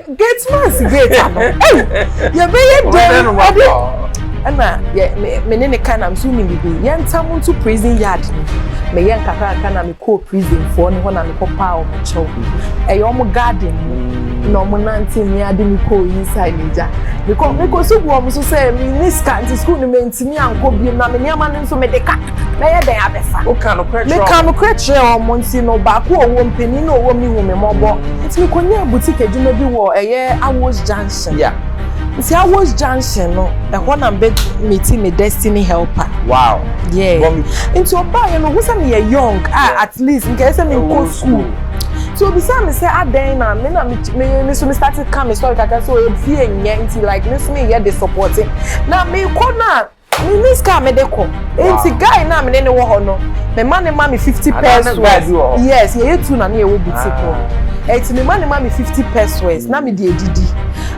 gate man's gate ano ɛyi yɛbɛyɛ dɛm ɛbi ɛna yɛ me me ne ne ka na nso ne bibi yɛn ntam nto prison yard no me yɛ nkakraka na me kɔɔ prison foɔ ne hɔ na me kɔ paa wɔn kyɛw ɛyɛ wɔn garden mu na wɔn nante mi ade mi kɔɔ inside ne gya me kɔ me kɔ so bu wɔn so sɛ me ne sika nti school no me ntumi ankɔ biem na me nneɛma no nso me de ka. mɛyɛ dɛn abɛfa? Woka nokorɛ kyerɛ wɔn. Meka nokorɛ kyerɛɛ wɔn nti no, baako a ɔwɔ mu, panin no a ɔwɔ mu no hu me mmɔbɔ. Nti mekɔnyaa boutique adwuma bi wɔ ɛyɛ Awos Junction. Yeah. Nti Awos Junction no, ɛhɔ na mebɛ meeti me destiny helper. Wow. Yeah. Bɔ me. Nti ɔbaeɛ no, ɔhu sɛ meyɛ young a at least nka ɛyɛ sɛ menkɔ school. Nti ɔbisaa me sɛ adɛn na me na me me me so me start ka me sɔre kakra sɛ ɔyɛ fie nyɛ nti like me nso meyɛ de supporte. Na mekɔ no a. Minni sika a mede kɔ. Enti guy no a me ne no wɔ hɔ no, mema no ma me fifty pesewas. Yes, yɛyɛ two na na yɛwɔ boutique hɔ. Enti mema no ma me fifty pesewas na mede adidi.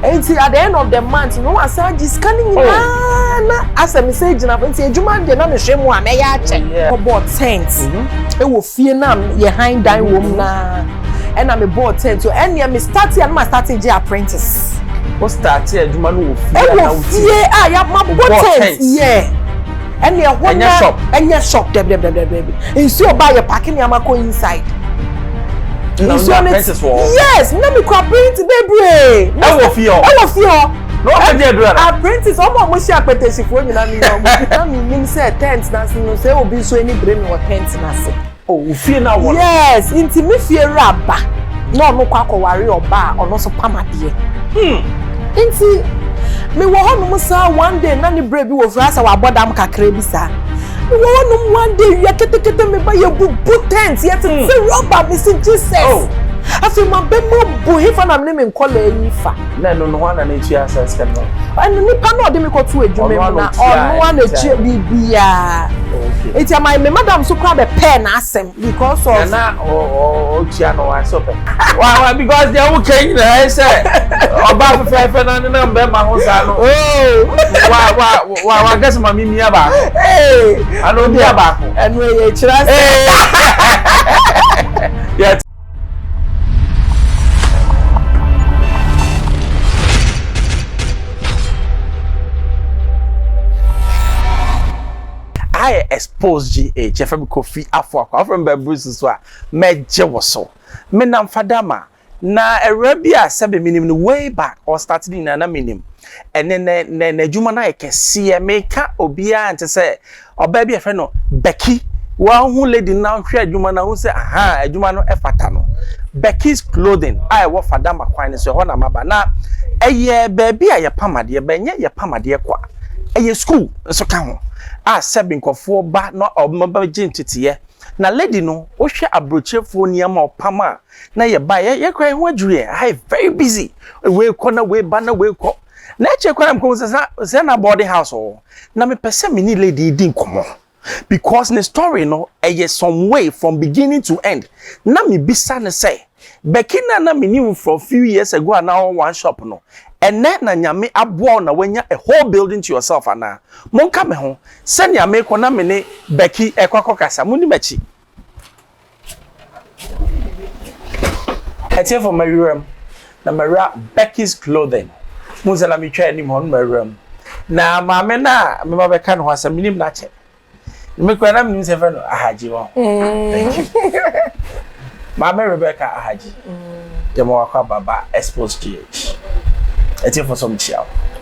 Enti at the end of the month no, wasan agye sika no nyinaa na asɛ me sɛ agyina hɔ. Enti adwuma no deɛ na mehwɛ mu a, mɛyɛ akyɛ. Kɔbɔɔ tent wɔ fie no a yɛhan dan wom no ara. Ɛna me bɔɔ tent so ɛneɛ me start a na ma start gye apprentice. Wo start adwuma no wɔ fie a na wo ti. Ɛwɔ fie a ya ma bɔ tent yeah. Ɛne ɛhɔ na ɛnyɛ shop dɛbidɛbidɛbidɛbi nsuo ba yɛ parking nneɛma kɔ inside. Na wo apprentice wɔ hɔ. Yes na me kɔ apprentice bebree. Ɛwɔ fie hɔ. Ɛwɔ fie hɔ. Na wɔn fɛ di adura na. Apprentice wɔn a wɔn si apɛtɛsifoɔ nyinaa mi na wɔn. Na mi nim sɛ tent na se no sɛ obi nso ani bere mi wɔ tent na se. Oh, wo fie na wɔ no. Yes, nti me fie wura ba na ɔno kɔ akɔware ɔba a ɔno nso pam adeɛ. Hmm. Nti me wɔ hɔ nom saa one day na ne brɛ bi wɔ fie sɛ wabɔ dam kakra bi saa. Me wɔ hɔ nom one day wia ketekete me ba yɛ bubu tent yɛ tete hmm. rubber me si Jesus. Oh. Afei ma bɛ ma bu hefa na me ne me nkɔla yi fa. Na ɛno no hwan na ne tua saa sika no. Ɛno nipa na ɔde me kɔ to adwuma mu na ɔno a na tua biribiara. Okay. Nti ama me madam so kora bɛ pɛɛ na asɛm because of. Na na ɔtua no wa so pɛ. Wa wa because deɛ wo kɛ nyina ɛ sɛ ɔba fɛfɛɛfɛ na ne nam bɛ ma ho saa no. Oh. Wa wa wa wa kɛse ma mi mia baako. Ee. Ano mia baako. Ɛnu ɛyɛ kyerɛ sɛ. Ee. ayɛ expose gh ɛfɛ mi kɔ fi afɔ akɔ afɔ mi bɛbiri soso a mɛgye wɔ so me nam fadama na ɛwura bi a sɛbi mi nim no way back ɔstart ne nyinaa na mi nim ɛnɛ nɛ nɛ n'adwuma no ayɛ kɛseɛ meka obiara nkyɛ sɛ Ɔbaa bi a yɛfrɛ no Becky, wahu lady no na ɔhwɛ adwuma no ahu sɛ ahaa adwuma no fata no. Becky's Clothing a ɛwɔ Fadama kwan no so, ɛhɔ na maba. Na ɛyɛ baabi a yɛpam adeɛ, but ɛnyɛ yɛpam adeɛ kɔ a, ɛyɛ school nso ka ho a sɛbe nkurɔfoɔ ba na wɔbɛgye nteteeɛ. Na lady no, wohwɛ aburokyerefoɔ nneɛma a ɔpam a na yɛba a, yɛn koraa yɛn ho adwiri yɛn. Aha yɛ very busy, wei kɔ na wei ba na wei kɔ. Na akyire koraa na mekɔhu sɛ sɛ na boarding house wɔ hɔ. Na me pɛ sɛ me ne lady yi di nkɔmɔ because ne story no ɛyɛ some way from beginning to end na me bisa no sɛ Becky na na me nim from few years ago a na ɔwɔ one shop no ɛnɛ na nyame aboa wo na wanya a whole building to yourself anaa? Monka me ho sɛnea mekɔ na me ne Becky ɛkɔ akɔ kasa moni makyi. ɛteɛ fam mawura mu na mawura Becky's clothing mu sɛ na metwa anim hɔ no mawura mu na maame no a mema bɛka ne ho asɛm menim no akyɛ mekura na menim sɛ fɛ no ahagye wɔ maame rebecca ahagye yɛma wakɔ ababa expose gh ɛteɛ fo so mkyia wo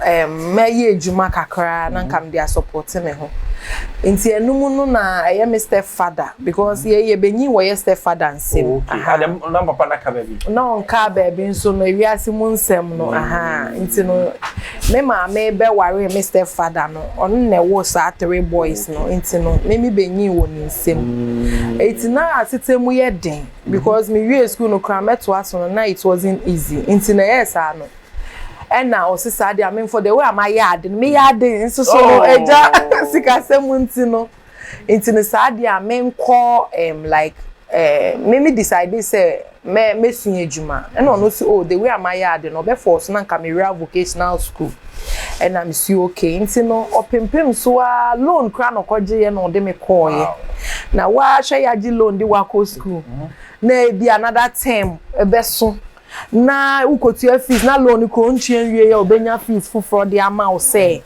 mɛyɛ adwuma kakra na nka mede asɔpɔte me ho. Nti ɛno mu no na ɛyɛ me step father because yɛn yɛbɛnyin wɔyɛ step father nsam. Oh, okay. Aha. Adam, na papa na ka baabi? Na ɔnka baabi nso no ewiase mu nsɛm no. Aha. Nti no me maame bɛware me step father no ɔno na ɛwɔ saa three boys no. Nti no me me bɛnyin wɔ ne nsam. Eti mm. na asetɛ mu yɛ den because me wie school no koraa mɛtoa so no na it wasn't easy. Nti na ɛyɛ saa no. Ɛna ɔse saa deɛ me for the way a mayɛ ade no meyɛ ade nso so no agya sikasɛm mu nti no nti no saa deɛ a menkɔ um, like um, me me decide sɛ mɛ mɛsua adwuma ɛna ɔno si oh the way a mayɛ ade no ɔbɛ force na nka mewura vocational school ɛna mesi okay nti no ɔpempem so a loan kora na ɔkɔgyeeɛ na ɔde me kɔɔeɛ na wahwɛ yɛagye loan de wakɔ school mm-hmm. na ebi another term ɛbɛso na wokotua fees na loan no kura ontua nwie yɛ obenya fees foforɔ de ama wo sɛ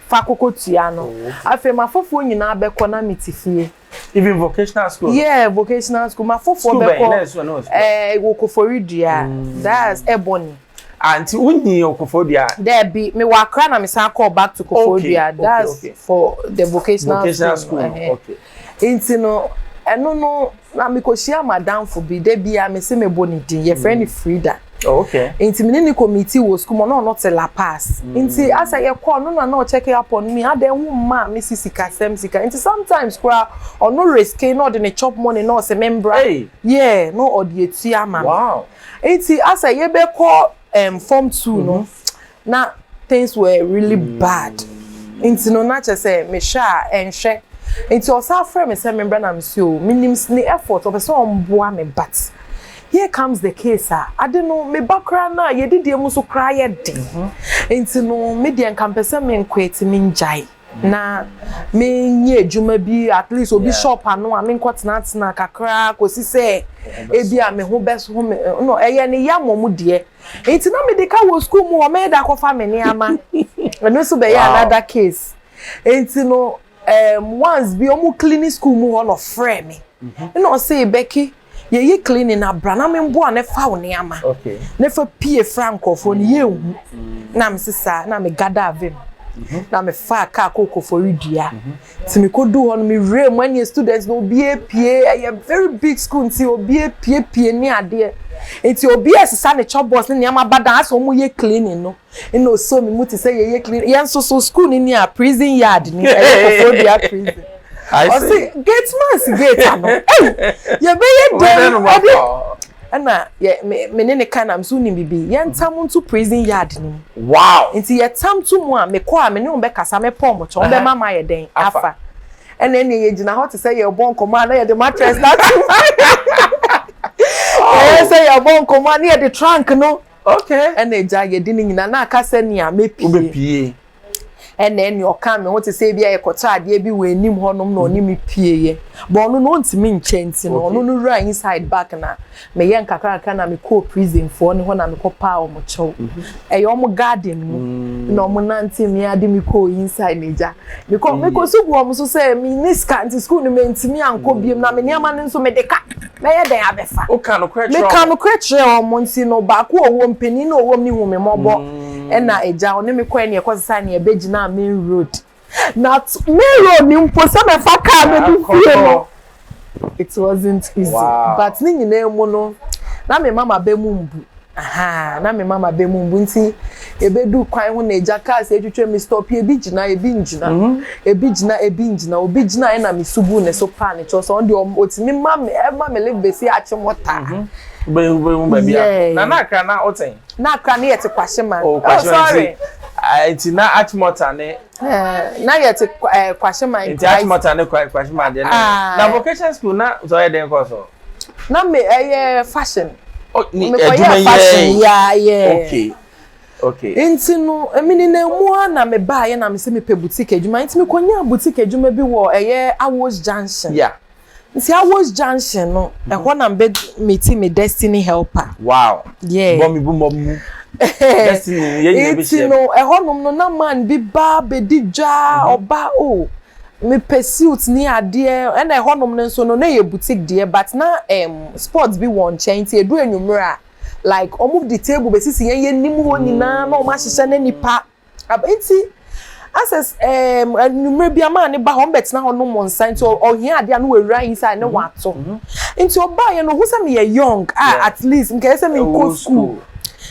fa koko tua no afei ma foforɔ nyinaa bɛkɔ na me te fie even vocational school yeah vocational school ma foforɔ bɛkɔ ɛɛ wɔ kofori dua mm. that's ebony anti ah, wonyi okofori dua dɛbi me wɔ akra na me san kɔ back to kofori dua that's for the vocational, vocational school, school. Uh -huh. okay. Nti no, ɛno no, na mekɔhyia m'adamfo bi, da biara mese mebɔ ne din, yɛfrɛ no Frida. Oh, okay. Nti me ne no kɔ meeting wɔ sukuu mu, ɔno ɔno te La Paz. Mm. Nti asɛ yɛkɔ no na na ɔkyɛke apɔ no mi, adɛn wo mma a mesi sikasɛm sika. Nti sometimes koraa ɔno riske na ɔde ne chop money na ɔsɛ me mbra. Hey. Yeah, na ɔde atua ama me. Wow. Nti asɛ yɛbɛkɔ um, form two no, mm-hmm. na things were really bad nti no na kyerɛ sɛ mehwɛ a ɛnhwɛ nti ɔsan afrɛ me sɛ membra na mesi o menim ne effort ɔpɛ sɛ ɔmboa me but here comes the case a ade no meba koraa no a yɛdidie mu nso koraa yɛ den mhm. nti no me deɛ nka mpɛ sɛ menkwete mengyae na menyɛ adwuma bi at least obi shop ano a menkɔ tenatena kakra kɔsi sɛ ebi a me ho bɛso me no ɛyɛ ne yɛ mmɔ mu deɛ Nti na mede ka wɔ sukuu mu hɔ, mɛda akɔfa me nneɛma. Ɛno nso bɛyɛ another case. Nti no, um, once bi ɔmo cleaning sukuu mu hɔ na ɔfrɛ me. Mhm. Ɛna ɔse, Becky, yɛyɛ cleaning na bra na memboa ne fa wo nneɛma. Okay. Ne fa pie fra nkurɔfoɔ no mm. yɛnhu. Mm. Na mese saa, na me gada avem. Mhm. Na mefaa kaa kɔɔ kɔfɔre dua. Mhm. Ti me kɔ du hɔ no me wura mu ɛne students no obi apue ɛyɛ very big school nti obi apue pue ne adeɛ nti obi ɛsesa ne chɔbɔs ne nneɛma aba dan asɛ ɔmo yɛ cleaning no ɛna ɔsɔ me mu te sɛ yɛyɛ cleaning yɛn nso so school no ni a prison yard ni ɛyɛ kɔfɔ dua prison ɔsi gate man si gate ano ɛy yɛbɛyɛ dɛm ɛde. ɛna yɛ me me ne ne ka na me so wonim biribi yɛntam nto prison yard no mu wow nti yɛtam to mu a mekɔ a me ne wɔn bɛkasa mɛpɔ wɔn kyɛ wɔn bɛma ma ayɛ dɛn afa ɛna ɛnna yɛgyina hɔ te sɛ yɛrebɔ nkɔmmɔ a na yɛde mattress no ato mu ɛyɛ sɛ yɛrebɔ nkɔmmɔ a na yɛde trunk no okay ɛna agya yɛde ne nyinaa na aka sɛ nea mepie ɛna ɛne ɔka me ho te sɛ ebi a yɛkɔtɔ adeɛ bi wɔ anim hɔnom na ɔne me pieeɛ bɔ ɔno no ɔntumi nkyɛ nti no ɔno no wura inside back na meyɛ nkakrakra na mekɔɔ prisonfoɔ ne hɔ na mekɔ paa ɔmo kyɛw ɛyɛ ɔmo garden mu na ɔmo nante me ade me kɔɔ inside na gya mekɔ mekɔ so gu ɔmo so sɛ me ne sika nti school no mentumi ankɔ biem na me nneɛma no nso mede ka mɛyɛ dɛn abɛfa? Woka nokorɛ kyerɛ wɔn. Meka nokorɛ kyerɛ wɔn nti no, baako wɔ hɔ, mpanin no wɔ hɔ, ne hu me mmɔbɔ. Mm. Ɛna agya, ɔne me kɔɛ ne ɛkɔ sesae ne ɛbɛgyinaa main road. Na main road ne mpo sɛ mɛfa kaa no de fie no, it wasn't easy. Wow. But ne nyinaa mu no, na me mama bɛ mu mbu. Ahaa, na me mama bɛ mu mbu nti yɛbɛdu kwan ho na agya cars atwitwa me stop ebi gyina ebi ngyina ebi gyina ebi ngyina obi gyina ɛna me sugu ne so paa ne kyɛw sɛ ɔno deɛ ɔtumi ma me ɛma me live bɛsi akye mo taa. Bɛhu bɛhu baabi a na na akra na ɔtɛn. Na akra ne yɛte kwahye ma. Oh kwahye ma nti nti na achimota ne. Na yɛte kwahye ma nti. Nti achimota ne kwahye ma deɛ ne. Na vocation school na sɛ ɔyɛ den kɔ so. na me ɛyɛ fashion mekɔyɛ fashion yaa yɛɛ nti no menenam mu a na mebaeɛ na mesɛ mepɛ boutique adwuma nti mekɔnyaa boutique adwuma bi wɔ ɛyɛ Awos junction nti Awos junction no mhm. ɛhɔ na mbɛ meti me destiny helper wow yeah bɔ me bu mɔ mu destiny yɛ nyina bɛ hyɛ nti no ɛhɔ nom no na man bi ba bɛdi dwa ɔba mhm. o oh. Mepɛ suit ne adeɛ ɛna ɛhɔ nom no nso no na ɛyɛ boutique deɛ but na emm sports bi wɔn nkyɛn nti ɛduru anwummerɛ a like wɔn de table bɛsisi yɛn yɛn nim hɔ nyinaa na wɔn ahyehyɛ na nnipa aba nti asɛ emm anwummerɛ biara maa no ba hɔ wɔn bɛtena hɔ nom nsa nti ɔhia adeɛ a na wawura inside na wato nti ɔbaeɛ no ɔhu sɛ meyɛ young a at least nka ɛsɛ sɛ mekɔ school.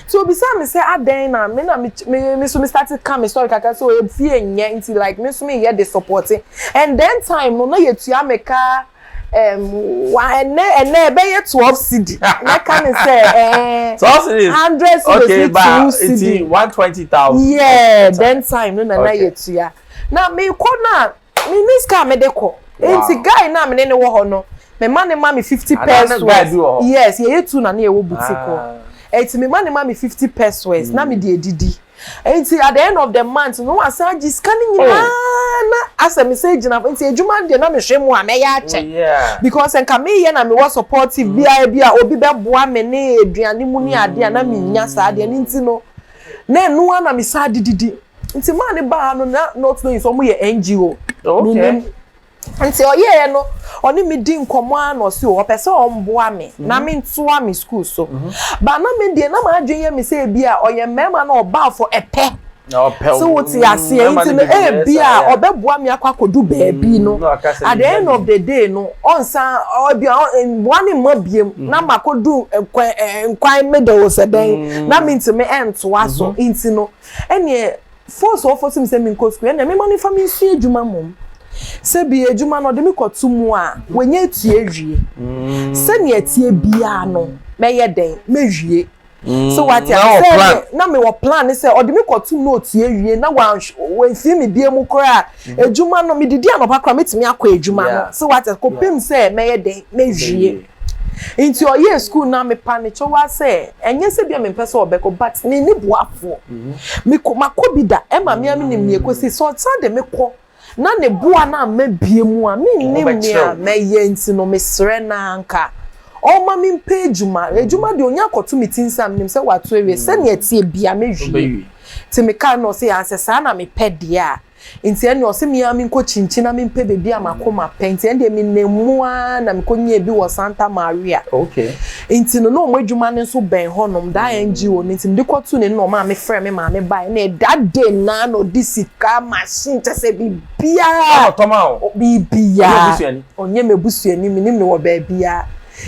Nti obisaa me sɛ adɛn na me na me me me nso me starte ka me story kakra sɛ oh fie nnyɛ nti like me nso meyɛ de supporte and then time no na yɛtua me ka um, wa ɛnɛ ɛnɛ ɛbɛyɛ twelve cedi mɛka ne sɛ eh, Twelve cities. hundred cities Okay, ne ba two nti cedi one twenty thousand. yeah then time no na na Okay. yɛtua na mekɔ no a Menni sika a mede kɔ. Enti guy no a me ne no wɔ hɔ no, mema no ma me fifty pesewas. Yes, yɛyɛ two na na yɛwɔ boutique hɔ. Enti mema no ma me fifty pesewas na mede adidi. Enti at the end of the month no, na wasan agye sika no nyinaa na asɛ mesan agyina hɔ. Enti adwuma no deɛ na mehwɛ mu a mɛyɛ akyɛ. Because sɛ nka meyɛ na mewɔ supportive bi a ebi a obi bɛboa me ne aduane mu ne adeɛ a na mennya saa deɛ. Ɛno nti no, na ɛno ara na mesan de didi. nti maa ne baa ha no na not knowing sɛ ɔmo yɛ ngo no nim nti ɔyɛɛ no ɔne me di nkɔmɔ a na ɔsi o ɔpɛ sɛ ɔmboa me mhm. na me ntoa me school so mhm. ba na me deɛ na maa adwene yɛ me sɛ ebi a ɔyɛ mmarima na ɔbaa fo ɛpɛ so wote aseɛ mm, nti no ebi a ɔbɛboa me akɔ akɔdu baabi mm, no at the end of the day no ɔnsan ɔbi mmoa ne mma biem mm. na makɔdu nkwan eh, eh, nkwan middle sɛ dɛn na mentumi ɛntoa so nti no. Ɛnneɛ force a wɔforce me sɛ menkɔ sukuu yi, ɛnneɛ memma no mfa me nsua adwuma mmom. Sɛ bi adwuma no ɔde me kɔto mu a, wanya atua awie. Sɛdeɛ ɛteɛ biara no, mɛyɛ dɛn? Mɛwie. So wate Na wɔ aseɛ plan. sɛ na mewɔ plan ne sɛ ɔde me kɔtom na ɔtua awie na wanhw- wansie me bie mu koraa a, adwuma no, medidi anɔpa koraa a, mɛtumi akɔ adwuma no. Yeah. So wate aseɛ, kɔpem sɛ mɛyɛ dɛn? Mɛwie. Ntsi ɔyɛɛ skuul no a mepa no kyɛw ara sɛ nnyɛ sɛ bi a memmpɛ sɛ ɔbɛkɔ but minnyi boafoɔ. Mekɔ makɔ bi da ɛma me ara menyim nea ekosi. Sɛ ɔsan de me kɔ na ne boa no amma bie mu a mennyim nea mɛyɛ ntsi no meserɛ no ara nka ɔmma me mpɛ edwuma. Edwuma deɛ onnya akɔto me tsi nsa a menyim sɛ ɔato ewie sɛnea ɛtseɛ bia mɛwie. Ntsi mekaa no na ɔse aah sɛ saa na mepɛ deɛ a. Nti ɛnneɛ ɔse me ara menkɔ Kyinkyin na mempɛ baabi a m'akoma pɛ. Nti ɛnneɛ menam mu ara na mekɔnyaa bi wɔ Santa Maria. Nti no, na wɔn adwuma no nso bɛn hɔnom, daa NGO no. Nti mede kɔtoo n'anim na wɔmaa mefrɛɛ me maame baeɛ. Ɛnna that day no ara na ɔde sika, machine, kyerɛ sɛ biribiara. Ɛnna ɔtɔ maa wo? Biribiara. Ɔnyɛ w'abusuani? Ɔnyɛ m'abusuani, mennim no wɔ baabiara.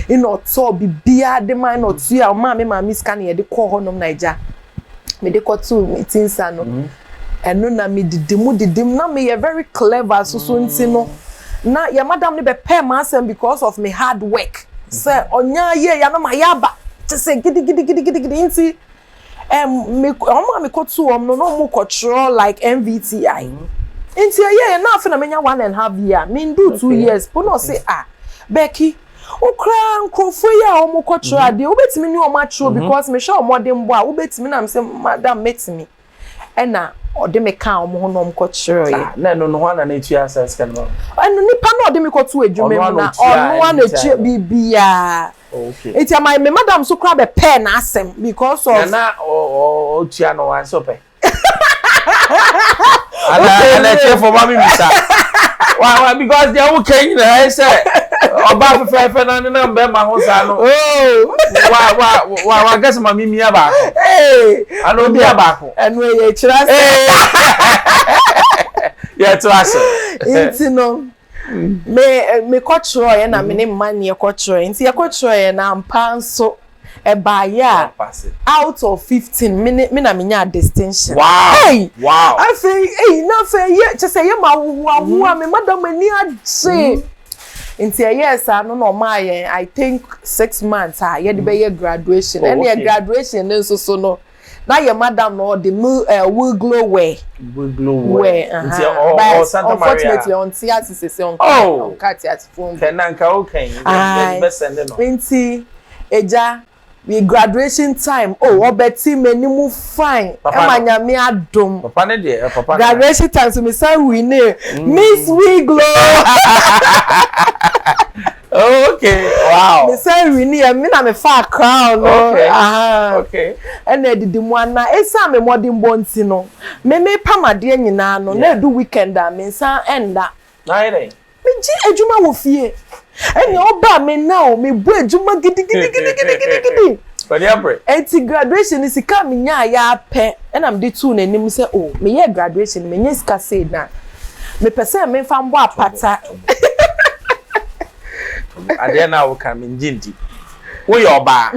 Ɛnna ɔtɔɔ biribiara de mae, ɛnna ɔtuaa, ɔmaa me maame sika na yɛde kɔɔ hɔnom na agya, mede kɔtoo me ti nsa no, Ɛno na me didi mu didi mu na me yɛ very clever soso nti no na yɛ madam no bɛ pɛɛ m'asɛm because of me hard work sɛ ɔnyɛ ayɛ ya na ma yɛ aba te sɛ gidi gidi gidi gidi gidi nti ɛm me ɔmo a me kɔ tu ɔmo no na ɔmo kɔ twerɛ like MVTI nti ɛyɛ yɛ na afe na me nya one and half year me ndu two years po na ɔse ah Becky wo koraa nkorɔfoɔ yi a ɔmo kɔ twerɛ adeɛ wo bɛ tumi ne ɔmo atwerɛ because me hwɛ ɔmɔdenbɔ a wo bɛ tumi na me se madam mɛ tumi. ɛna ɔde me kaa wɔn ho na wɔn kɔ kyerɛ yɛ. na ɛno no hɔn na n'etua asɛn sika no ma. ɛno nipa na ɔde me kɔ to adwuma mu na ɔno a na etua biribiara eti ama me madam so kora bɛ pɛɛ n'asɛm because of. na na ɔtua no wa nso pɛ. ana ana ekyɛ fɔ ma mi mi sa wa wa because deɛ wo kɛ nyinaa yɛ sɛ ɔba fɛfɛɛfɛ na ne nam bɛɛ ma ho saa no wa wa wa wa gɛsɛ ma mi mi aba. Ana obi a baako. Ɛnu ɛyɛ ekyirɛ ase. Yɛ to ase. Nti no me me kɔ kyerɛ yɛ na me ne mma ni yɛ kɔ kyerɛ yɛ nti yɛ kɔ kyerɛ yɛ na mpa nso ɛbaa yɛ a out of fifteen me ne me na me nya distinction. Wow hey wow afei eyi na afei yɛ kyɛ sɛ yɛ ma ahohoa ahohoa me madam ani agye. Nti ɛyɛɛ saa no na ɔmaa yɛn I think six months a yɛde bɛyɛ graduation. Oh, Ɛneɛ okay. graduation no nso so no, na yɛ madam no ɔde mu uh, will glow wear. Will glow wear. Uh-huh. Nti ɔ, ɔ, But Santa Maria. unfortunately ɔnte ase sese ɔnka oh. ɔnka te ase fom. Kɛnɛ nka ɔka yi, yɛde bɛsɛnde no. Nti ɛgya Me graduation time oh ɔbɛte m'anim fine ɛma nyame adom graduation time so me san winee mm. miss wiglo okay wow me san winee me na me fa crown no ɛna ɛdidi mu ana ɛsan me mmɔdenbɔ nti no me me pam adeɛ nyinaa no na ɛdu weekend a me nsa ɛnda Megye adwuma wɔ fie. Ɛnna ɔbaa me nna o, mebɔ adwuma gidigidigidigidigidi. W'ani abere. Enti graduation no, sika a menyaeɛ ara pɛ na mede too n'anim sɛ, o, meyɛɛ graduation no, manya sika sei, na mepɛ sɛ memfa mbɔ apata. Adeɛ no a woka no, mengye ndi. Woyɛ ɔbaa,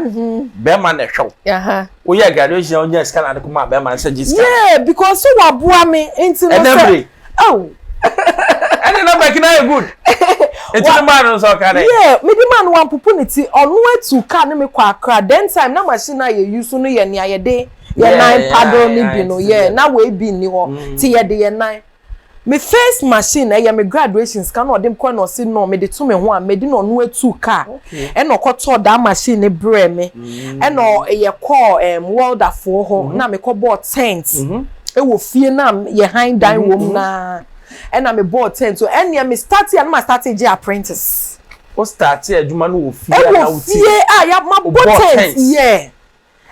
barima na ɛhwɛ wo. Woyɛɛ graduation na wonyaa sika na wode kɔmaa barima no sɛ gye sika no. Yeah, because so waboa me, nti no sɛ Oh. Ɛne na bɛki na yɛ good. Eti ne maa no nso ɔka dɛ. Yeah, me de maa no wampopo ne ti. Ɔno atu car ne me kɔ Accra. Then time na machine a yɛ use no yɛ nea yɛde yɛn nan paddle ne bi no. Yeah, na wei bi nni hɔ. Ti yɛde yɛn nan. Me first machine ɛyɛ me graduation sika na ɔde kɔɛ na ɔse no mede to me ho a medi na ɔno atu car ɛna ɔkɔ tɔɔ that machine ne brɛɛ me. Ɛna yɛkɔɔ ɛɛm welder foɔ hɔ na mekɔ bɔɔ tent. wɔ fie no a yɛ han dan wɔ mu no ara ɛna mebɔɔ tent so ɛnneɛ me starte a na ma starte gye apprentice Wo starte adwuma no wɔ fie a na wo ti ɛwɔ fie a yɛ mabɔ tent yɛ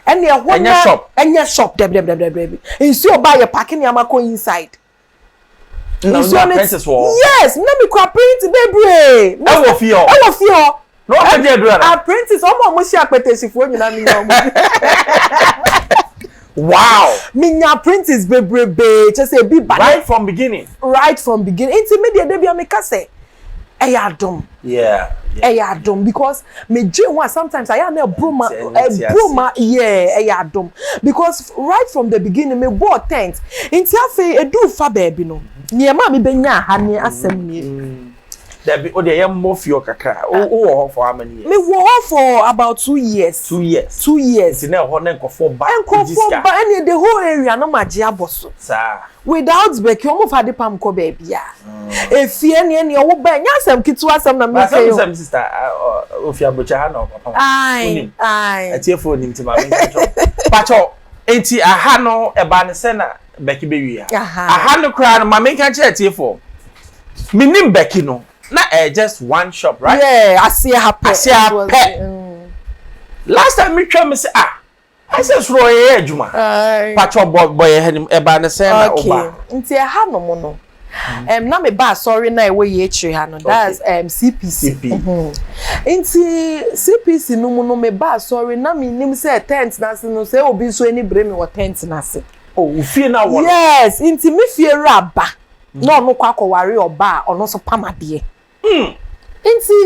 ɛnneɛ ɛhɔ na ɛnyɛ shop ɛnyɛ shop dabi dabi dabi dabi nsuo ba a yɛ paake nneɛma kɔ inside na nsuo no apprentice wɔ hɔ yes na mi kura print bebree ɛwɔ fie hɔ ɛwɔ fie hɔ na wɔn bɛgye adura no apprentice wɔn a wɔn hyɛ apɛtɛsifoɔ nyinaa mi nya wɔn wow mi nya apprentice bebrebe kyɛ sɛ ebi ba right from beginning right from beginning nti mi deɛ de bi a mi ka sɛ. ɛyɛ adom ɛyɛ adom because megye ho a sometimes ayɛ a na ɛboro ma ɛboro ma yeah ɛyɛ adom because right from the beginning me bɔɔ tent nti afei edu fa baabi no nneɛma a mebɛnya ha ne asɛm nie. Mm. Dabi, o deɛ yɛ mmɔ fie kakra. O ah. wɔ hɔ for how many years? Me wɔ hɔ for about two years. Two years. Two years. Nti na ɛhɔ na nkurɔfoɔ ba. Nkurɔfoɔ ba ɛni the whole area no ma gye abɔ so. Saa. Without Becky ɔmo fa ade pam kɔ baabiaa efie neɛ neɛ ɔwo ba ɛnyɛ asɛm ketewa asɛm na meka yi o. But asɛm sista ofi abrokyɛ ha na ɔba pam wonim atiefo onim ti ma menka kyɛw pakyɛw enti aha no ɛba ne sɛ na Becky bɛ wie a aha no koraa no ma menka kyɛ atiefo menim Becky no na ɛyɛ just one shop right yeah aseɛ ha pɛ aseɛ ha pɛ last time metwa me sɛ ah. I said soro ɔyɛ adwuma. Pacho bɔ bɔ yɛ hɛnim ɛba ne sɛn na ɔba. Nti ɛha no mo no. Um, na me ba asɔre na ɛwɔ yɛ akyire ha no that's um, CPC. Nti CPC no mu no me ba asɔre na me nim sɛ tent na ase no sɛ obi nso ani bere me wɔ tent na ase. Oh, ufie na wɔ. Yes, nti me fie wura ba na ɔno kɔ akɔware ɔba a ɔno nso pam adeɛ. Hmm. Nti,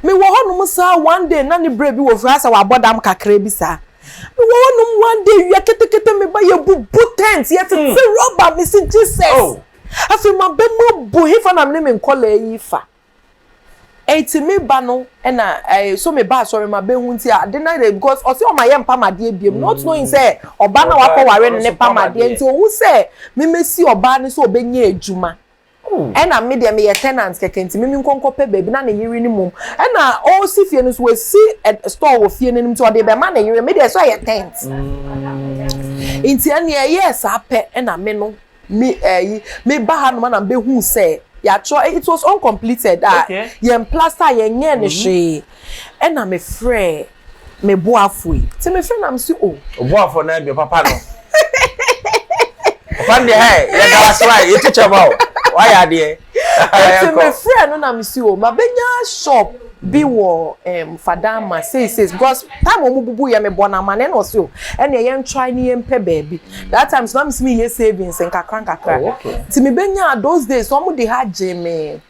me wɔ hɔ nom saa one day na ne berɛ bi wɔ fie asɛ wabɔ dam kakra bi saa. Me wɔ hɔ nom one day wia ketekete me ba yɛ bubu tent yɛ tete hmm. rubber me si Jesus. Oh. Afei ma bɛ mu abu he fa na me ne me nkɔla yi fa. Eti me ba no ɛna ɛɛ so me ba asɔre ma bɛ hu nti a de na de because ɔsi ɔma yɛ mpamadeɛ biem not hmm. knowing sɛ ɔba na wakɔ ware ne ne pamadeɛ nti ohu sɛ me me si ɔbaa ne sɛ ɔbɛ nye adwuma. Ɛna me deɛ meyɛ tenant kɛkɛ nti me menkɔ nkɔ pɛ baabi na ne yere no mmom ɛna ɔresi fie no nso wasi store wɔ fie no anim nti ɔde rebɛma ne yere me deɛ ɛsɛ ɔyɛ tent nti ɛneɛ ɛyɛɛ saa pɛ ɛna me no me ɛyi me ba ha nom ɛna mbɛhu sɛ yɛatwerɛ it was uncompleted a yɛn plaster yɛn nyɛɛ ne hwee ɛna me frɛ. Me boafo yi. Ti me fɛ na me si o. O boafo na ebi papa no. Papa de hɛ yɛ da wase wa yɛ ti kyɛ ma o. Wa yɛ adeɛ. Ti me fɛ no na me si o. Ma bɛ nya shop bi wɔ um, Fadama sei sei because time wɔn bubu yɛ me bɔ na amane na ɔsi o. Ɛnna yɛn try ne yɛn pɛ baabi. That time so na me si me yɛ savings nkakra nkakra. Oh, okay. Ti me bɛ nya those days wɔn de ha gye me.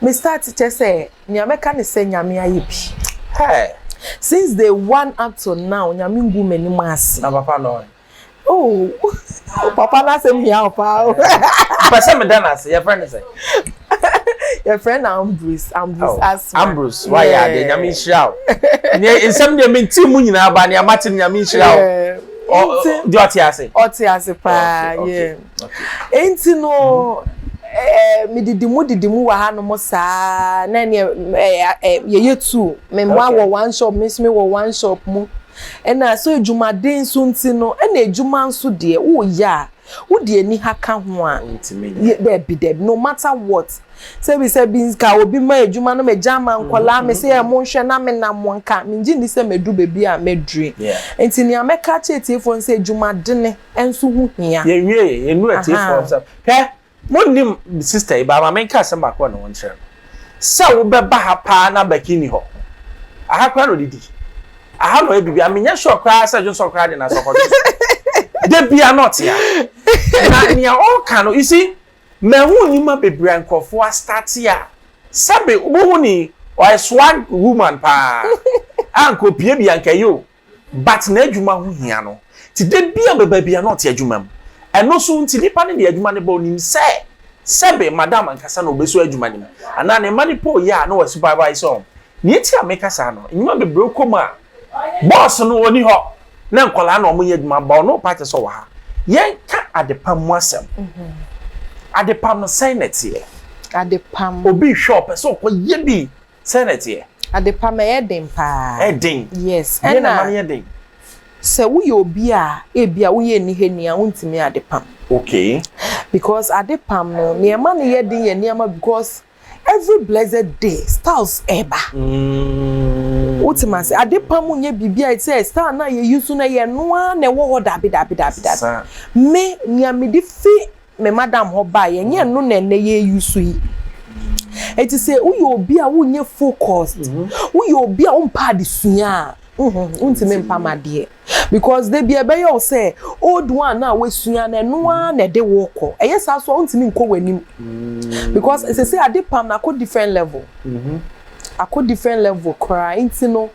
Me start kyɛ sɛ nea mɛka ne sɛ nyame ayɛ bi hey. Since day one up to now nyame ngu m'anim ase. Na papa no ɔn. Oh papa no asɛm hia wo paa o. Mpɛ sɛ meda no ase yɛfrɛ no sɛ. yɛfrɛ no Ambrose Ambrose oh, Asma. Ambrose wayɛ yeah. adeɛ nyame nhyira wo. Nea nsɛm deɛ mente mu nyinaa ba nea mate no nyame nhyira wo. Deɛ ɔte ase. Ɔte ase paa yɛ. Enti no, eh, me didi mu didi mu wɔ ha no mo saa, na ne eh, eh, yɛ yɛ tu, me mmoa wɔ one shop, me nso me wɔ one shop mu. Ɛna so adwumaden nso nti no, ɛna adwuma nso deɛ, wo yɛ a, wo deɛ ni ha ka ho a, dɛbi dɛbi, no matter what. Sɛbi sɛbi nka obi ma adwuma no, me gya ama mm-hmm, nkɔla, me mm-hmm. sɛ yɛ mo nhwɛ na me nam mo nka, me ngye ni sɛ me du beebi a me dure. Enti nea mɛka kyerɛ tiefo nsɛ adwumadene. nso ho hia. Yɛn wie yɛ yɛn nu atiefo nsɛm hwɛ mo nim sista yi ba ama menka asɛm baako wɔ ne ho nkyerɛ no sɛ wo bɛ ba ha paa na bɛki ni hɔ aha kora na ɔdidi aha na ɔyɛ bibi a menyɛ sure koraa sɛ dwonsɔ koraa de na sɛ ɔkɔdwe de bia na ɔte ha na nea ɔka no isi mɛhu nneɛma bebree nkurɔfoɔ astate a sɛbe wobɛhu ni ɔyɛ swag woman paa a nkɔpie bi anka yi o But n'adwuma ho hia no nti da biara ɔbɛ baabi a na ɔte adwuma mu. Ɛno so nti nipa no de adwuma no ba ɔnim sɛ sɛbe madam ankasa na ɔbɛsua adwuma no mu anaa ne mma no pɛ ɔyɛ a na wa supervise wɔn. Nea nti a meka saa no nnwuma bebree wokɔ mu a boss no ɔni hɔ na nkwadaa na wɔyɛ adwuma but ɔno ɔpɛ akyɛ sɛ ɔwɔ ha. Yɛnka adepam mu asɛm. Adepam no sɛn na ɛteɛ? Adepam. Obi rehwɛ ɔpɛ sɛ ɔkɔ yɛ bi. Sɛn na ɛteɛ? Adepa ma ɛyɛ den paa. Ɛyɛ den? Yes. Deɛ na ɛma no yɛ den? Sɛ woyɛ obi a ebia woyɛ nnihani a wontumi adepam. Okay. Because adepam no nea ɛma no yɛ den yɛ nneɛma because every blessed day styles ɛba. Mm. Wote ma se adepam nyɛ biribi a sɛ style na yɛ use na yɛ no ara na ɛwɔ hɔ dabi dabi dabi dabi. Me nea mede fi me madam hɔ bae, ɛnyɛ ɛno na ɛnnɛ yɛreuse yi. Enti sɛ woyɛ obi a wonyɛ focused, mm-hmm. woyɛ obi a wompɛ adesua a, mm-hmm, wontumi mpa ma adeɛ. Because da bi ɛbɛyɛ wo sɛ old one a woasua no ɛno ara na ɛde wo kɔ. Ɛyɛ saa so a wontumi nkɔ w'anim. Mm-hmm. Because ɛsɛ sɛ ade pam na akɔ different level. Akɔ different level koraa nti no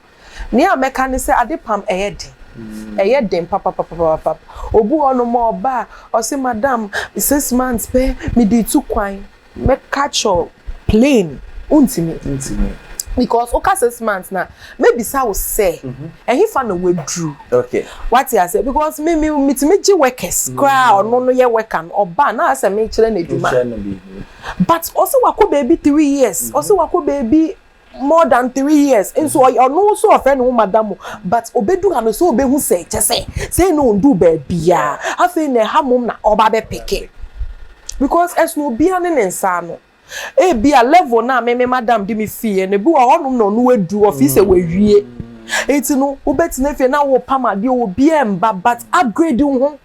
Nea mɛka ne sɛ adepam ɛyɛ den, ɛyɛ den papapapapap. Obi wɔ hɔnom a ɔba a ɔse madam six months pɛ mede tu kwan. Mɛka kyerɛ wo plain wontumi. Wontumi. Because woka six months no a, mɛbisa wo sɛ ɛhefa na woaduru. Okay. Wate aseɛ? Because me me metumi gye workers koraa a ɔno no yɛ worker no ɔba a na ayɛ sɛ mekyerɛ no adwuma. Wokyerɛ no biribi. But ɔse wakɔ baabi three years, ɔse wakɔ baabi more than three years nso ɔyɛ ɔno nso ɔfrɛ ne ho madam but obedu ha no sɛ obehu sɛ kyɛ sɛ sɛ na ondu baabia afei na ɛha mom na ɔba bɛ peke because ɛsono obia ne ne nsa ano ebia level no a me me madam de me fie no bi wɔ hɔ nom na ɔno wadu ɔfi sɛ wawie nti no wobɛtena fie na wopam adeɛ obia mba but upgrade ho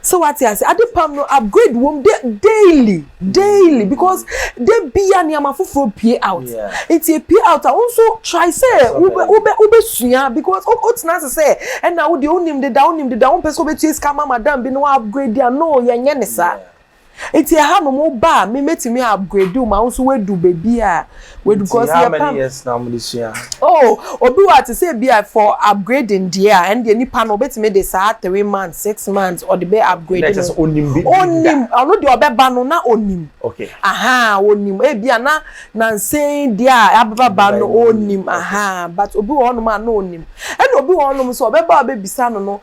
So wate ase adepam no upgrade wom de daily daily because de bia nneɛma foforɔ pie out nti epie out a wo nso try sɛ wobɛ wobɛ wobɛsua because wotena ase sɛ ɛna wo deɛ wonim deda wonim deda wompɛ sɛ wobɛtua sika ma madam bi na wa upgrade a no yɛnyɛ ne saa. Nti ɛha nom wo ba a me mɛtumi upgrade wo ma wo nso woadu baabi a wadu cause yɛ pam. Nti how many years na wɔde sua? Oh obi wɔ a te sɛ ebi a for upgrading deɛ a ɛndeɛ nipa no ɔbɛtumi de saa three months, six months ɔde bɛ upgrade no. Na ɛkyɛ sɛ ɔnim bi da. Ɔnim ɔno deɛ ɔbɛba no na ɔnim. Okay. Ahaa ɔnim ebi a na nansa yi deɛ a abɛbaba no ɔnim ahaa but obi wɔ hɔ nom a na ɔnim ɛna obi wɔ hɔ nom nso ɔbɛba a ɔbɛbisa no no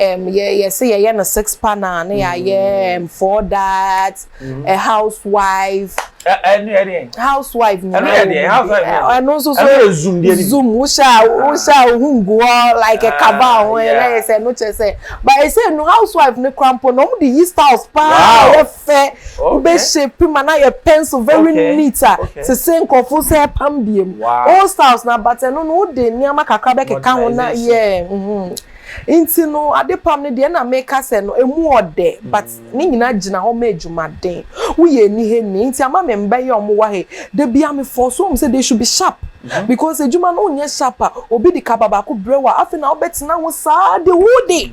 Um, yɛ yɛ sɛ yɛyɛ no six panel ne yɛayɛ um, four that mm. a housewife. ɛnu yɛ deɛ. housewife ni ɛnu yɛ deɛ housewife ni ɛnu nso so ɛnu yɛ zoom deɛ bi zoom wusa wusa ohun gu hɔ like a kaba ho ɛna yɛ sɛ ɛnu kyɛ sɛ but ɛsɛ ɛnu housewife ni kura mpo na wɔn de yi styles paa yɛ fɛ bɛ shape ma na yɛ pencil very neat a sese nkɔfo sɛ pam biem old styles na but ɛnu no o de nneɛma kakra bɛ keka ho na yɛ. Nti no adepam no deɛ na meka sɛ no ɛmu ɔdɛ but ne nyina gyina hɔ ma adwumaden. Wo yɛ anihɛni nti ama me mba yi a ɔmo wɔ ha yi da bia me force ɔmo sɛ they should be sharp because adwuma no wo nyɛ sharp a obi de kaba baako brɛ wo a afei na wo bɛ tena ho saa the whole day.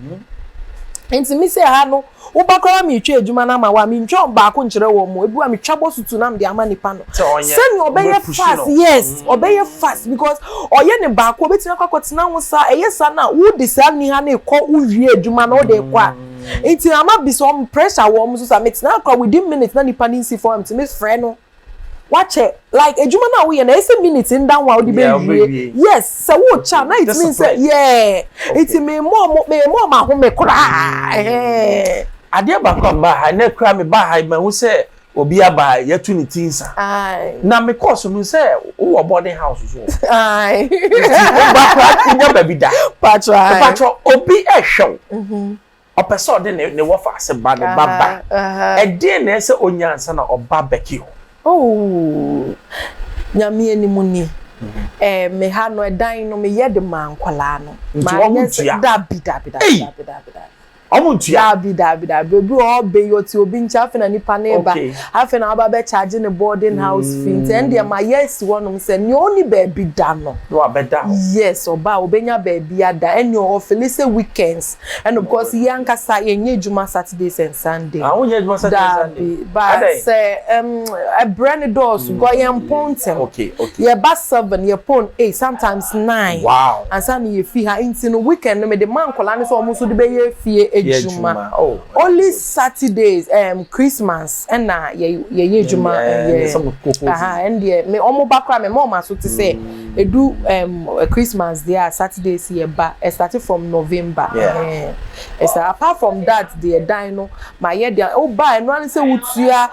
Nti me sɛ ha no Woba koraa ma meretwa adwuma no ama wo a, mentwa ɔbaako nkyerɛ wɔn o, ebi a metwa bɔ so tu na mede ama nipa no. Sɛnea ɔbɛyɛ fast, yes, ɔbɛyɛ fast because ɔyɛ ne baako, obetumi akɔ akɔtena ho saa, ɛyɛ saa na wode saa niha no rekɔ, wowie adwuma no wode rekɔ a, nti ama bi sɛ wɔn pressure wɔn so saa, metenaa koraa within minutes na nipa no nsi fam a, metumi frɛ no. Wakyɛ like adwuma no a woyɛ no ɛyɛ sɛ minute nda ho a wode bɛwie yes sɛ wokyɛ a na it means sɛ yeah nti memmɔ ɔmo memmɔ ɔmo ahome koraa ɛhɛɛɛ. Adeɛ baako a mebaa ha nnɛ koraa mebaa ha yi mahu sɛ obi aba a yɛatu ne ti nsa na mekɔɔ so mehu sɛ wowɔ boarding house nso o nti woba koraa nnya baabi da mpakyɛ obi ɛhwɛ wo. Ɔpɛ sɛ ɔde ne ne wɔfa ase ba ne ba ba. Ɛdeɛn na ɛsɛ sɛ ɔnya ansa na ɔba Becky hɔ? Oh, Nyame anim ni, eh, me ha no, ɛdan no me yɛ de maa nkwadaa no. Nti wɔn mo ntua? Dabi, dabi, dabi, dabi, dabi, dabi. Wɔn mo ntua? Dabi, dabi, dabi. Obi wɔ hɔ ɔbɛ yi, ɔte obi nkyɛn, afei na nipa no reba. Okay. Afei na waba bɛ charge ne boarding house fee. Nti ɛn deɛ ma yɛ asi hɔ nom sɛ, nea ɔni baabi da no. Na wabɛda hɔ. Yes, ɔba a, ɔbɛnya baabi ada. Ɛn deɛ ɔfili sɛ weekends Ɛno because yɛn ankasa yɛn nyɛ adwuma Saturdays and Sunday. Ah, wonyɛ adwuma Saturday Sunday. Dabi, ba sɛ ɛm ɛbrɛ ne dɔɔso, mm. because yɛn pɔn ntɛm. Okay, okay. Yɛ ba seven, yɛ pɔn eight, sometimes nine. Wow. Ansa na yɛ fi ha, nti no weekend no me de ma nkɔla ne sɛ wɔn nso de bɛ yɛ fie adwuma. Oh. Only Saturdays, um, Christmas, ɛna yɛ yɛ yɛ adwuma. Ɛyɛ ɛyɛ sɛ mo koko. Aha, ɛn deɛ me wɔn ba kora me ma wɔn aso te sɛ. Mm. Edu Christmas deɛ a Saturdays yɛ ba starting from November ɛhɛn saa apart from that deɛ dan no ma yɛ deɛ a woba a ɛno ara ne sɛ wotua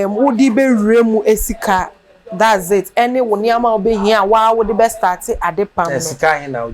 wode bɛ wura mu sika that's it ɛne wo nneɛma a wobɛhia a woa wode bɛ start ade pam no.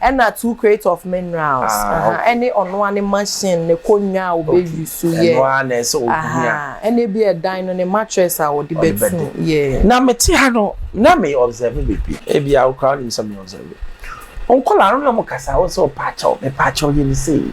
Ɛna two crate of minerals aha ɛne ɔno ara ne machine ne konwa a ɔbɛ use yɛ aha ɛna ebi a ɛdan no ne mattress a ɔde bɛ tu yɛ. Na me te ha no na me observe beebi ebi a wo koraa wonim sɛ me observe nkɔlaa no na ɔmo kasa wo sɛ ɔpaakyɛw mepaakyɛw yɛ ne sei.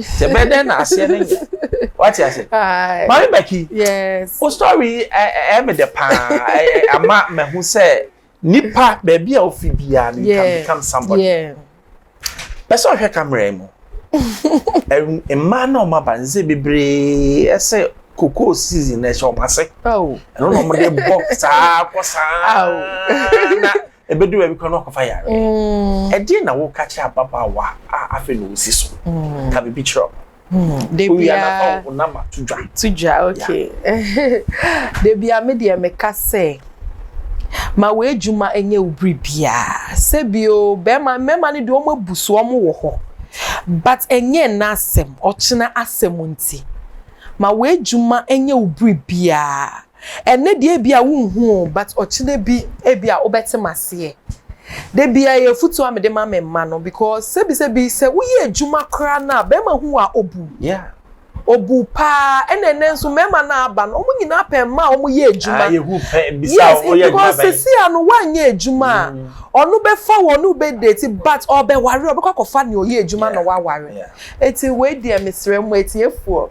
sɛ bɛyɛ dɛn na aseɛ no nyɛ wate ase mame baki wo story ɛyɛ me dɛ paa ama mahu sɛ nipa baabi a wofi biara no you can become somebody pɛ sɛ ɔhwɛ kamera yi mu mmaa na ɔma ba nse bebree ɛsɛ cocoa season na ɛhyɛ ɔmo ase ɛno na ɔmo de bɔ saa kɔ saa na ɛbɛdu baabi kora na wakɔfa yareɛ mm. ɛdeɛ na woka kyerɛ ababaawa a afei na ɔsi so mm. ka biribi kyerɛ ɔnama to dwa to dwa ok da bia me deɛ meka sɛ ma w'adwuma nyɛ wo bere biara sɛbio bɛrima mmarima no deɛ wɔn abu so wɔn wɔ hɔ but ɛnyɛ n'asɛm ɔkyena asɛm nti ma w'adwuma nyɛ wo bere biara Ɛnnɛ deɛ ebia wonhu o but ɔkyena bi ebia wobɛte m'aseɛ. Da biara ɛyɛ afutuo a mede ma me mma no because sɛbi sɛbi sɛ woyɛ adwuma koraa no a bɛrima hu wo a ɔbu wo. Ɔbu wo paa ɛna ɛnnɛ nso mmarima no a aba no wɔn nyinaa pɛ mmaa a wɔyɛ adwuma. Yes because sesia no woanyɛ adwuma a ɔno bɛfa wo ɔne wo bɛ date but ɔrebɛware ɔbɛkɔ akɔfa nea ɔyɛ adwuma na waware. Eti wei deɛ mesrɛ mo atiefoɔ.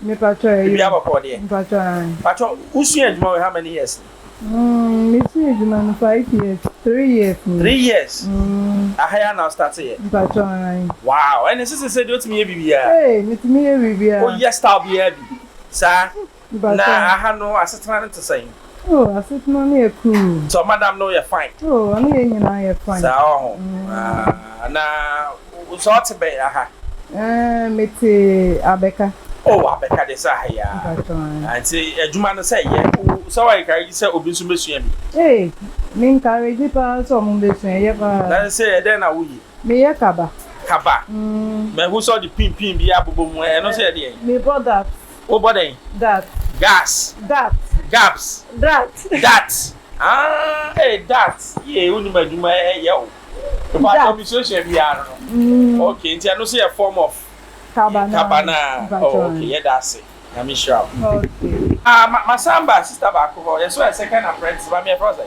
Me patrɔ ɛyɛ o. Biribiara bɔ kɔɔ deɛ. Mpatrɔ ae. Patrɔ wo sua adwuma wei how many years ni? Umm me sua adwuma no five years three years ni. Three years? Umm. Aha yi ara na wo start yɛ? Mpatrɔ ae. Wow ɛne ɛsɛ sɛ sɛdeɛ wotumi yɛ biribiara. Ee me tumi yɛ biribiara. Wo yɛ style biara bi saa? Mpatrɔ. Na aha no asetena no te sɛn? Oh asetena no yɛ cool. So madam no yɛ fine. Oh ɔne yɛn nyinaa yɛ fine. Saa wɔ ho ah na so ɔte bɛn aha. Eh mete abɛka. Oh abɛka deɛ sɛ aha yi ah. Mpakyɛw eh. Ah nti adwuma no sɛ yɛ wo sɛ wɔ encourage sɛ obi nso bɛsua bi. Eh me encourage paa sɛ ɔmo bɛsua ɛyɛ paa. Na sɛ ɛdɛn na wo yɛ. Me yɛ kaba. Kaba. Mm. Mahu sɛ ɔde pin pin bi abobɔ mu ɛno nso yɛ deɛn. Me bɔ that. Wobɔ dɛn? Gat. Gas. Gat. Gaps. Dat. Dat. Ah, eh, dat. Yee, wonim adwuma eh, yɛ o. Mpa atɔ mi suasua biara no. Mm. Okay, nti ɛno so yɛ form of. Kabana. Kabana. Oh, okay, yɛ da ase. Nyame nhyira wo. Okay. Ah, ma, ma samba, sister baako hɔ. Yɛ so yɛ second apprentice, ba mi yɛ fɛ ɔsɛ.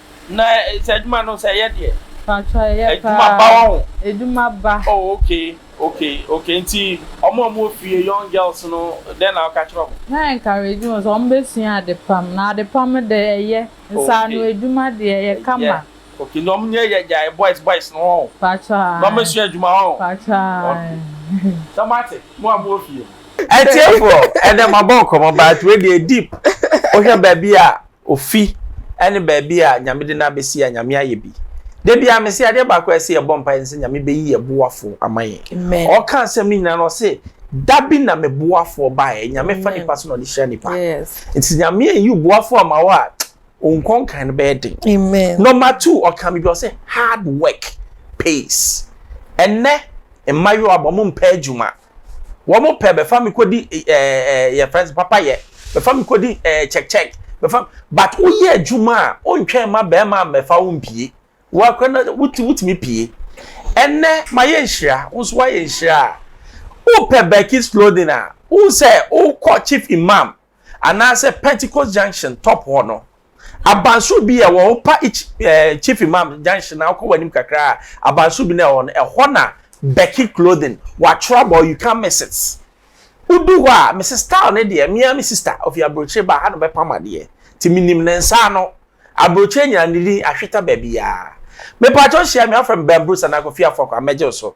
Na sɛ adwuma no sɛ ɛyɛ deɛ. Mpakyɛw ɛyɛ paa. Adwuma ba wɔ ho. Adwuma ba. Oh okay okay okay nti ɔmo a ɔmo wɔ fie young girls no dɛn na woka kyerɛ ɔmo? Mɛ encourage wɔn sɛ ɔmo bɛ sua ade pam na ade pam dɛ ɛyɛ nsa ano adwuma deɛ ɛyɛ kama. Okay na ɔmo nyɛ yɛ gyae boys boys no hɔ. Mpakyɛw ae. Na ɔmo sua adwuma hɔ. Mpakyɛw ae. Sɛ mo ate mo a mo wɔ fie no. Atiefoɔ ɛnɛ mabɔ nkɔmɔ but wei deɛ deep wohwɛ baabi a Ofi ne baabi a Nyame de no abɛsi a Nyame ayɛ bi. Da biara mese adeɛ baako a ɛsɛ yɛbɔ mpaeɛ ne sɛ Nyame bɛyi yɛn boafoɔ ama yɛn. Ɔreka asɛm no nyinaa no ɔse da bi na me boafoɔ baeɛ. Nyame fa nipa so na ɔde hyira nipa. Nti sɛ Nyame anyi wo boafoɔ ama wo a, wo nkɔnkan no bɛyɛ den. Number two, ɔka biribi ɔse hard work pays. Ɛnnɛ mmayewa mo mpɛ adwuma. Wɔn pɛ bɛfa me kɔdi ɛɛ yɛfrɛ no papa yɛ bɛfa me kɔdi ɛɛ check check bɛfa but woyɛ adwuma a wontwɛn ma bɛrima mmɛfa wo mpie woakora na woti wotumi pie ɛnɛ mayɛ nhyira wo nso woayɛ nhyira a wopɛ Berkis clothing a wohu sɛ wokɔ chief imam anaasɛ Pentecost Junction top hɔ no, abansoro bi a ɛwɔ hɔ, wopa Ech, eh, Chief Imam Junction na wokɔ w'anim kakra a, abansoro bi na ɛwɔ hɔ no, ɛhɔ na Becky Clothing, wɔatwerɛ abɔ You Can't Miss It. Wodu hɔ a, Mrs. Style no deɛ, me ara me sista, ɔfi aburokyire ba, ha na ɔbɛpam adeɛ. Nti menim ne nsa ano. Aburokyire nyinaa ne din ahweta baabiara. Mepaakyɛw hyia me, wɔfrɛ me Ben Bruce anaa Kofi Afɔkwa, mɛgye wo so.